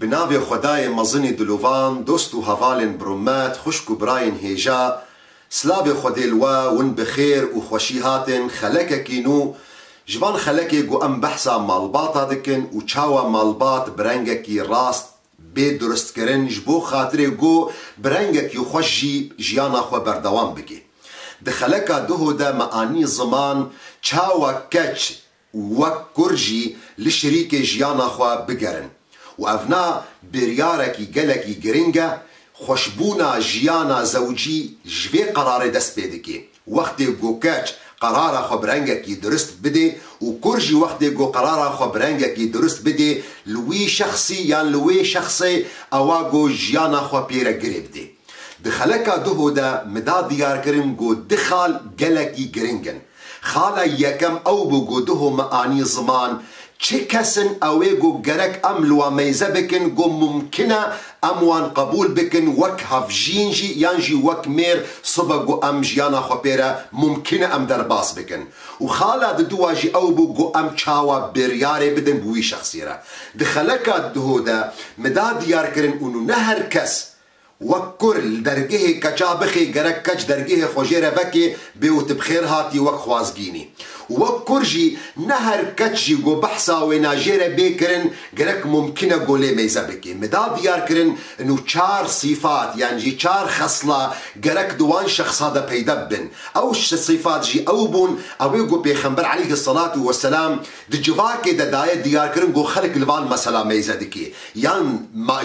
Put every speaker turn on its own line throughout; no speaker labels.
Bi navê Xwedayê mezinî dilovan dost û hevalên birûmet, xwişk û birayên hêja, silavê Xwedê li we, win bi xêr û xweşî hatin, xelekekî nû, ji van xelekê ku em behsa malbata dikin û çawa malbat bi rengekî rast bê duristkirin ji bo xatirê ku bi rengekî xweş jî jiyana xwe berdewam bike. Di xeleka Duho de me anî ziman çawa keç, û wek kur jî li şirîkê jiyana xwe bigerin û ev na biryarekî gelekî giring e, xweşbûna jiyana zewcî ji vê qerarê dest pê dikê, wextê ku keç qerara xwe bi rengekî dirust bidê û kur jî wextê ku qerara xwe bi rengekî dirust bidê li wî şexsî yan li wê şexsê ewa ku jiyana xwe pê re girê bidê. Di xeleka Duho de mida diyarkirin ku di xal gelekî giring in. Xala yekem ew bû ku diho me anî ziman. Çi kes in ew ê ku gerek em li wan meyze bikin ku mumkin e em wan qebûl bikin wek hevjîn jî yan jî wek mêr sibe ku em jiyana xwe pê re mumkin e em derbas bikin. Û xala diduwa jî ew bû ku em çawa biryarê bidin bi wî şexsî re. Di xeleka diho de mi da diyarkirin û nû ne her kes Wek kur li dergehê keça bixê gerek keç dergehê xwe jê re vekê bê û tu bi xêr hatî wek xwazgînî. Wek kur jî ne her keç jî ku behsa wê na jê re bê kirin gerek mumkîn e ku lê mêze bikê. Min da diyar kirin nu çar sîfat yan jî çar xesla gerek di wan şexsa de peyda bibin. Ew sîfat jî ew bûn ew ê ku Pêxember aleyhi selatû we selam di civakê de daye diyar kirin ku xelk li van mesela mêze dikê yan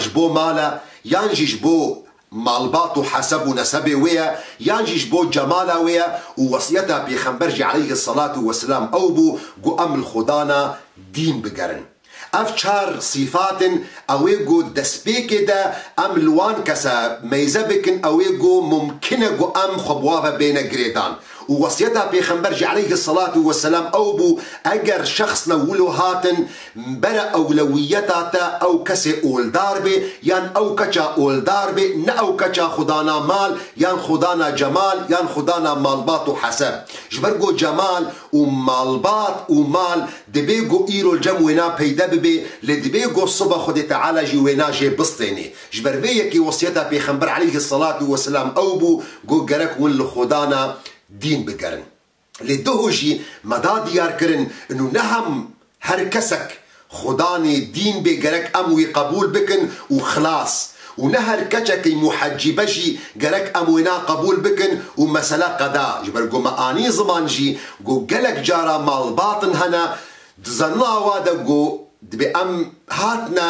ji bo mala yan jî ji bo malbat û heseb û nesebê wê ye, yan jî ji bo cemala wê ye û wesiyeta Pêxember jî aleyhi selatû wesilam ew bû ku em li xwedana dîn bigerin. Ev çar sîfat in ew ê ku destpêkê de em li wan kese meyze bikin ew ê ku mumkin e ku em xwe bi wa ve bêne girêdan. Û wesiyeta pêxember jî eleyhi selatû weselam ew bû, eger şexs li wilo hatin bere ewlewiyeta te ew kesê oldar bê yan ew keça oldar bê ne ew keça xwe dana mal yan xwe dana cemal yan xwe dana malbat û heseb. Ji ber ku cemal û malbat û mal dibê ku îro cem wêna peyde bibê lê dibê ku sibe Xwedê Teala jî wêna jê bistênê. Ji ber vê yekê wesiyeta Pêxember eleyhi selatû weselam ew bû ku gerek hûn li xwedana dîn bigerin. Lê duh jî me da diyarkirin nû ne hem her kesek xwedanê dîn bê gerek em wî qebûl bikin û xilas û ne her keçekî muhecîbe jî gerek em wêna qebûl bikin û mesele qeda ji ber ku me anî ziman jî ku gelek cara malbatin hene di zanîna wa de ku dibê em hatine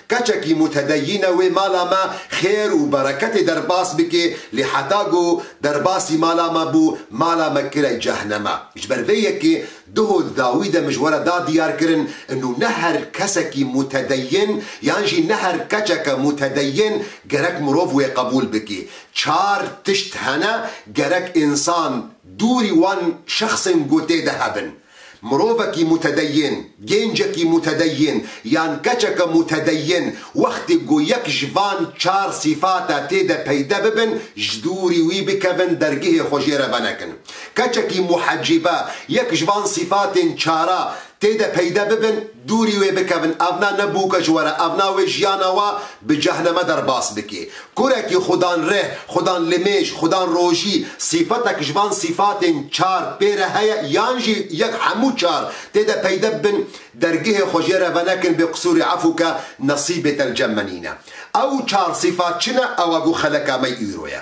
Keçekî mutedeyîne wê mala me xêr û bereketê derbas bike, lê heta ku derbasî mala me bû, mala me kire cehneme. Ji ber vê yekê duho di dawî de min ji we re da diyarkirin inu ne her kesekî mutedeyîn yan jî ne her keçeke mutedeyîn gerek mirov wê qebûl bike. Çar tişt hene gerek însan dûrî wan şexsên ku tê de hebin. Mirovekî mutedeyyin, gêncekî mutedeyyin yan keçeke mutedeyyin wextê ku yek ji van çar sîfate tê de peyde bibin ji dûrî wî bikevin dergihê xwe jê re venekin. Keçekî muhecîbe yek ji van sîfatên çara tê de peyde bibin, Dûrî wê bikevin evna ne bûke ji were evna wê jiyana wa bi cehneme derbas bike. Kurekî xudan rih, xudan limêj, xudan rojî, sîfetek ji van sîfatên çar pê re heye yan jî yek hemû çar tê de peyde bibin dergihê xwe jê re venekin bê qisûrî efû ke nesîbê te li cem me nîne. Ew çar sîfat çi ne ew a ku xeleka me îro ye.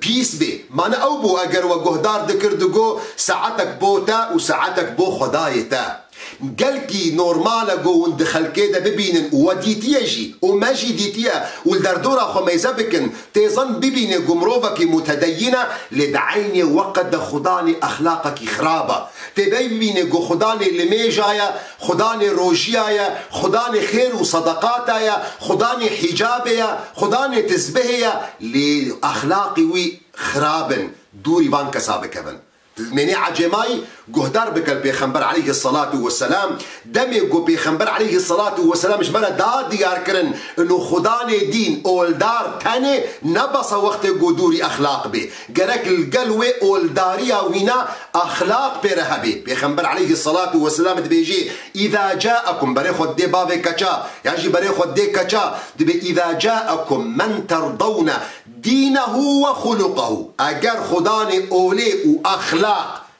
Pîs bê. Mane ew bû eger we guhdar dikir digo saetek bo te û saetek bo xwedayê te. Gelkî normal e go hûn di xelkê de bibînin û we dîtiye jî û me jî dîtiye û li derdora xwe mêze bikin têzan bibînê go mirovekî mutedeyîn e lê di eynê weqt de xwedalê exlaqekî xirab e. Têbey bibînê go xwedalê li mêja ye Xudanê rojiya ye, xudanê xêr û sedeqata ye, xudanê hîcabê ye, xudanê tizbihê ye lê exlaqê wî xirab in, dûrî van kesa bikevin. Tu dimênî ecemayî guhdar bike li Pêxember eleyhi selatû we selam, demê ku Pêxember eleyhi selatû we selam ji me re da diyar kirin ino xudanê dîn, oldar, tenê, ne besa wextê ku dûrî exlaq bê. Gerek li gel wê oldariya wîna exlaq pê re hebê. Pêxember aleyhi selatu weselam dibêjê, Îza câekum, berê xwe didê bavê keça, yan jî berê xwe didê keça, dibê Îza câekum men terdewne dînehu we xulukehu, eger xwe danê olê û exlaq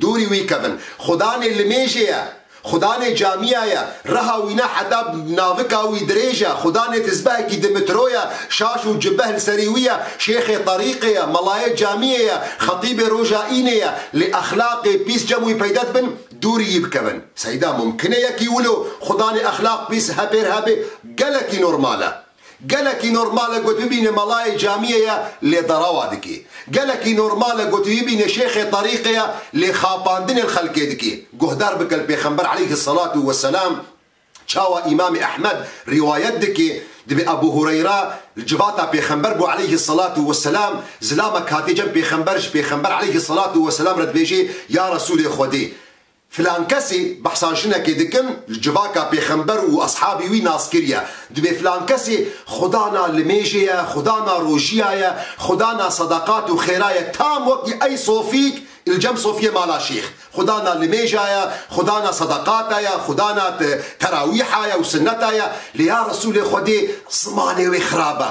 Dûrî wî kevin. Xudanê limêjê ye. Xudanê camîya ye. Reha wî ne heta navika wî dirêj e. Xudanê tizbehekî di mitro ye. Şaş û cibeh li serî wî ye. Şêxê terîqê ye. Melayê camîyê ye. Xetîbê roja înê ye. Lê exlaqê pîs cem wî peyde dibin, dûrî wî bikevin. Seyda, Mumkin e yekî wilo xudanê exlaq pîs hepêr hebê? Gelekî normal e. Gelekî normal e got bibîne melayê camiyê ye lê derewa dike. Gelekî normal e got bibîne şêxê terîqê ye lê xapandinên xelkê dike. Guhdar bike li Pêxember aleyhi selatû we selam çawa Îmamê Ehmed rîwayet dike, Divê Ebû Hureyra li civata Pêxember bû aleyhi selatû we selam, zilamek hatiye cem Pêxember ji Pêxember aleyhi selatû we selam re dibêje, Ya Resûlê Xwedê! Filan kesê behsa jinekê dikin li civaka pêxember û eshabî wî nas kiriye. Dibê filan kesê xuda na limêjê ye, xuda na rojiya ye, xuda na sedaqat û xêra ye tam wekî ey sofîk il cem sofiyê mala şêx. Xuda na limêja ye, xuda na sedaqata ye, xuda na terawîha ye û sinneta ye lê ya Resûlê Xwedê zimanê wê xirab e.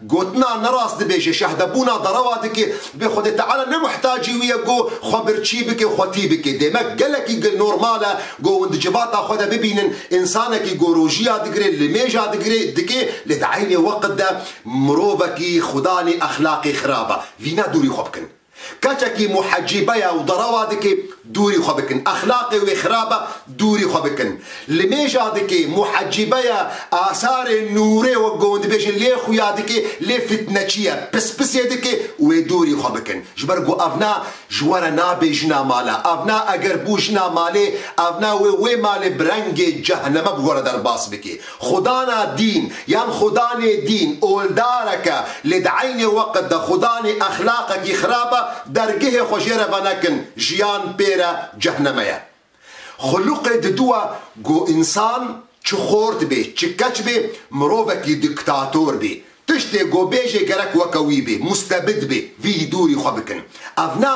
Gotina nerast dibêje, şahdebûna derewa dike, dibê Xwedê Teala ne mihtacî wî ye ku xwe birçî bike, xwe tî bike. Demek gelekî gi normal e ku hûn di civata xwe de bibînin însanekî ku rojiya digire, limêja digire, dike, lê di eynê weqt de mirovekî xudanê exlaqê xirab e. Vî ne dûrî xwe bikin. Keçekî muhecîbe ye û derawa dike dûrî xwe bikin. Exlaqê wê xirab e dûrî xwe bikin. Li mêja dike muhecîbe ye, asarê nûrê wek gon dibêjin lê xuya dike lê fitneçî ye. Pispisê dike wê dûrî xwe bikin. Ji ber ku ev na ji we re nabê jina male. Ev na eger bû jina malê, ev na wê wê malê bi rengê ceheneme bi we re derbas bike. Xwedana dîn yan xwedanê dîn oldareke lê di eynê weqt de xwedanê exlaqekî xirab e, dergehê xwe jê re venekin, jiyan pê re cehneme ye. Xuluqê Didu e ku însan çi xort bê, çi keç bê, mirovekî diktator bê. Tiştê ku bêjê gerek weke wî bê, mustebid bê, vî dûrî xwe bikin. Ev ne.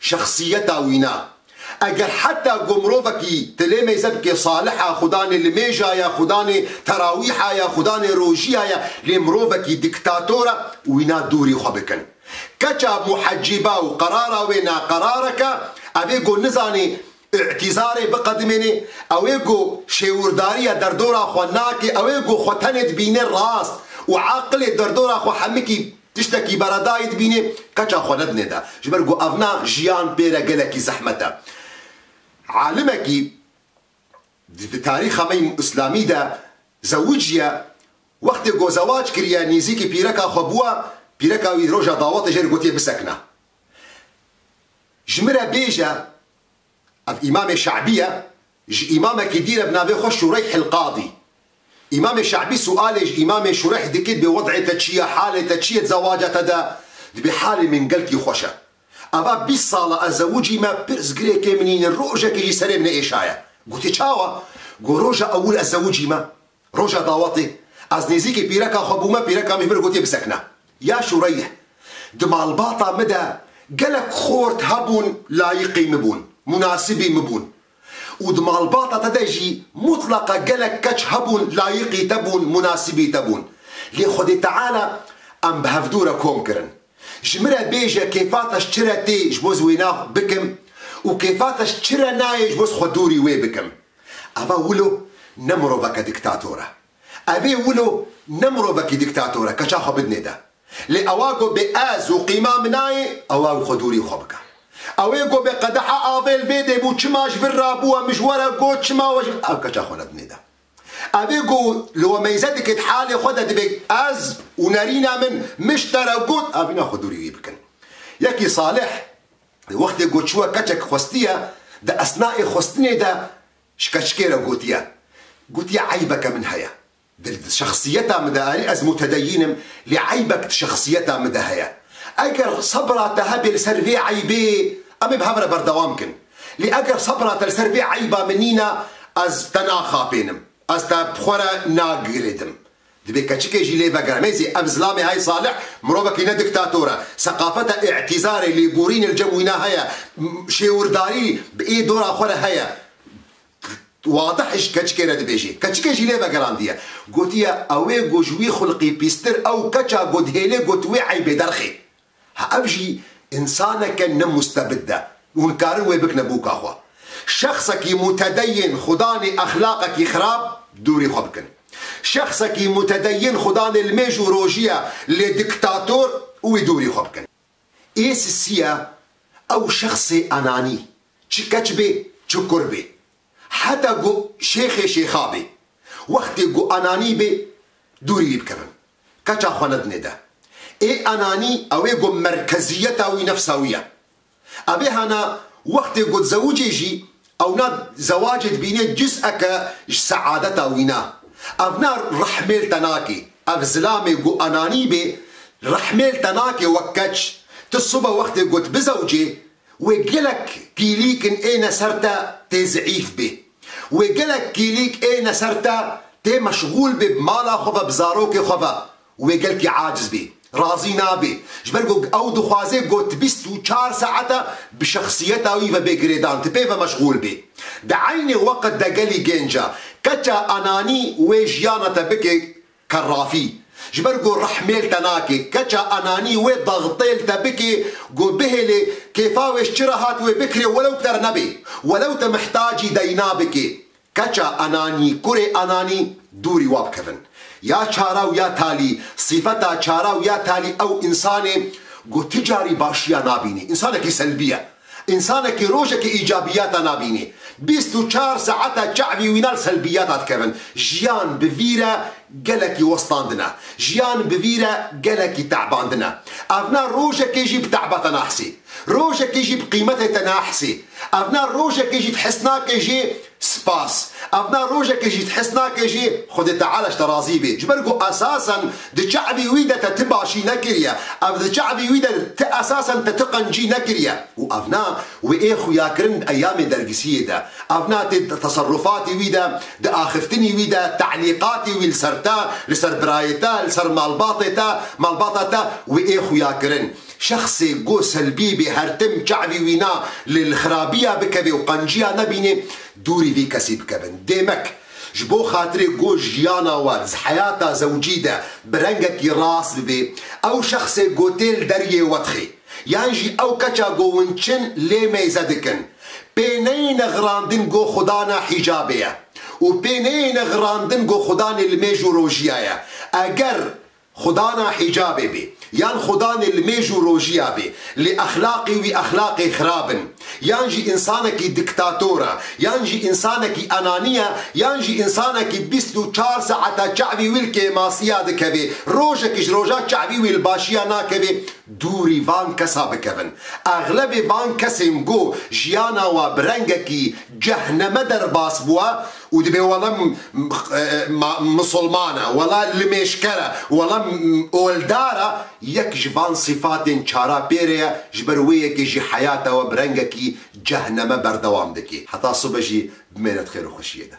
Şexsiyeta wî ne. Eger heta ku mirovekî tilê mêze bike salih e, xudanê limêja ye, xudanê terawîha ye, xudanê rojiya ye, lê mirovekî diktator e, wî ne dûrî xwe bikin. Keça muhecîba û qerara wê ne qerareke, ev ê ku nizanê Îtîzarê biqedimênê, ew ê ku şêwirdarîya derdora xwe nake, ew ê ku xwe tenê dibîne rast û aqilê derdora xwe hemikî tiştekî beredayî dibînê, keça xwe nedinê de. Ji ber ku evna jiyan pê re gelekî zehmet e. Alimekî di tarîxa me yî îslamî de zewiciye, wextê ku zewac kiriye, nîzîkî pîreka xwe bûye, pîreka wî roja dawetê jê re gotiye bisekine. Ji min re bêje, ev Îmamê Şe'bî ye, ji Îmamekî dî re bi navê xwe Şureyh el-Qadî. Îmamê Şe'bî sualê ji Îmamê Şureyh dike dibê wed'ê te çi ye, halê te çi ye di zewaca te de? Dibê halê min gelkî xweş e. Ava bîst sal e ez zewicî me, pirsgirêkê min nîne, rojekê jî serê min neêşaye. Gotê çawa? Got roja ewil ez zewicî me. Roja dawetê ez nêzîkê pîreka xwe bûme, pîreka min ji min re gotiye bisekine. Ya Şûreyye, di malbata min de gelek xort hebûn layiqî min bûn, munasibî min bûn û di malbata te de jî mutleqa gelek keç hebûn layiqî te bûn, munasibî te bûn. Lê Xwedê Teala em bi hevdû re kom kirin. Ji min re bêje kêfata ji çi re tê ji bo ez wê nav bikim û kêfata ji çi re nayê ji bo ez xwe dûrî wê bikim. Ava Wilo ne miroveke diktator e. Evê Wilo ne mirovekî diktator e, keça xwe bidinê de. Lê ewa ku bê ez û qîma min nayê, ewa ku xwe dûrî xwe bike. Ewê ku bê qedeha avê li vê dê bû, çima ji vir rabû, em ji we re got çima we ji vir, ew keça xwe nedinê de. Evê ku li we meyze dike di halê xwe de dibe ez û nerîna min miştere got avîna xwe dûrî wî bikin. Yekî Salih di wextê ku çûye keçek xwestiye di esnaê xwestinê de ji keçikê re gotiye, gotiye eybeke min heye di şexsiyeta min de erî ez mutedeyîn im lê eybek di şexsiyeta min de heye. Eger sebra te hebe li ser vê eybê em ê bi hev re berdewam bikin. Lê eger sebra te li ser vê eyba min nîne, ez te naxapênim, ez te bi xwe re nagirêdim. Divê keçikê jî lê vegere. Mêzî, ev zilamê heye Salih mirovekî ne diktator e. Seqafeta îtîzarê, lêborînê li cem wî ne heye. Şêwirdarî bi ê dora xwe re heye. Wadih ji keçikê re dibêjê. Keçikê jî lê vegerandiye. Gotiye, ewê got ji wî xulqî pîstir ew keça got hêlê got wê eybê derxê. Ha ev jî însaneke ne mustebid de û nikarin wê bikine bûka xwe. Şexsekî mutedeyyin xudanê exlaqekî xirab dûrî xwe bikin. Şexsekî mutedeyyin xudanê li mêj û rojî ye lê diktator û wî dûrî xwe bikin. Ê sisiya ew şexsê enanî çi keç bê çi kur bê heta ku şêxê şêxa bê wextê ku enanî bê dûrî wî bikevin. Keça xwe ne dinê de. Ê enanî ew ê ku merkeziyeta wî nefsa wî ye. Ev ê hene wextê ku dizewicê jî ewna zewacê dibînê cuz'eke ji seadeta wî ne. Ev ne rehmêl te nakê. Ev zilamê ku enanî bê rehmêl te nakê wek keç. Tu sibe wextê ku dibizewicê Wê gelek kîlîkn ê ne ser te tê zîîf bê. Wê gelek kîlîk ê ne ser te tê meşgûl bê bi mala xwe ve bi zarokê xwe ve û wê gelkî aciz bê. Razî nabê. Ji ber ku ew dixwaze ku ti bîst û çar saete bi şexsiyeta wî ve bê girêdan, ti pê ve meşgûl bê. Di eynê weqt de gelî gênc e. Keça enanî wê jiyana te bike Kerrafî, ji ber ku rehmêl te nake, keça enanî wê daxtêl te bike ku bihêle kêfa wê ji çi re hat wê bikire welew k'er nebe, welew te mihtacî deyna bike. Keça enanî, kurê enanî, dûrî wa bikevin. Ya çara û ya talî, sîfeta çara û ya talî ew însan e ku ti carî başiya nabînî, însanekî selbî ye. Însanekî rojekê îcabîyata nabînê. Bîst û çar saeta çavî wîna li selbîyata dikevin. Jiyan bi vî re gelekî westandin e. Jiyan bi vî re gelekî tebandin e. Ev ne rojekê jî bi teba te naxisî. Rojekê jî bi qîmetê te naxisî. Ev ne rojekê jî di his nake jê Spas. Ev na rojek e jî te his nake jî Xwedê Teala ji te razî bê. Ji ber ku esasen di çavî wî de te ti başî nekiriye. Ev di çavî wî de ti esasen te ti qencî nekiriye. Û ev na wê ê xuyakirin di eyamê dergisiyê de. Ev na tê di teserufatî wî de, di axiftinî wî de, te'lîqatî wî li ser te, li ser birayê te, li ser malbatê te, malbata te wê ê xuyakirin. Şexsê ku Selbî bê her tim çavî wî na lê li xirabîya bikevê û qenciya nebînê, dûrî vî kesî bikevin. Demek, ji bo xatirê ku jiyana we di heyata zewcî de bi rengekî rast bibê, ew şexsê ku tê li deriyê we dixê, yan jî ew keça ku hûn çin lê mêze dikin, pê neyêne xirandin ku xwedana hîjabê ye û pê neyêne xirandin ku xwedanê li mêj û rojiya ye. Eger. Xwe dana hîcabê bê yan xwe danê li mêj û rojiya bê lê exlaqê wî exlaqê xirab in yan jî însanekî diktator e yan jî însanekî enanî ye yan jî însanekî bîst û çar saete çavî wî li kêmasiya dikeve rojekî ji roja çavî wî li başiya nakeve dûrî van kesa bikevin exlebê van kesên ku jiyana we bi rengekî cehneme derbas bûye û dibê wele misilman e, wele limêşker e, wele oldar e, yek ji van sîfatên çara pê re ye, ji ber wê yekê jî heyata we bi rengekî cehneme berdewam dike, heta sibe jî bimêne di xêr û xweşiyê de.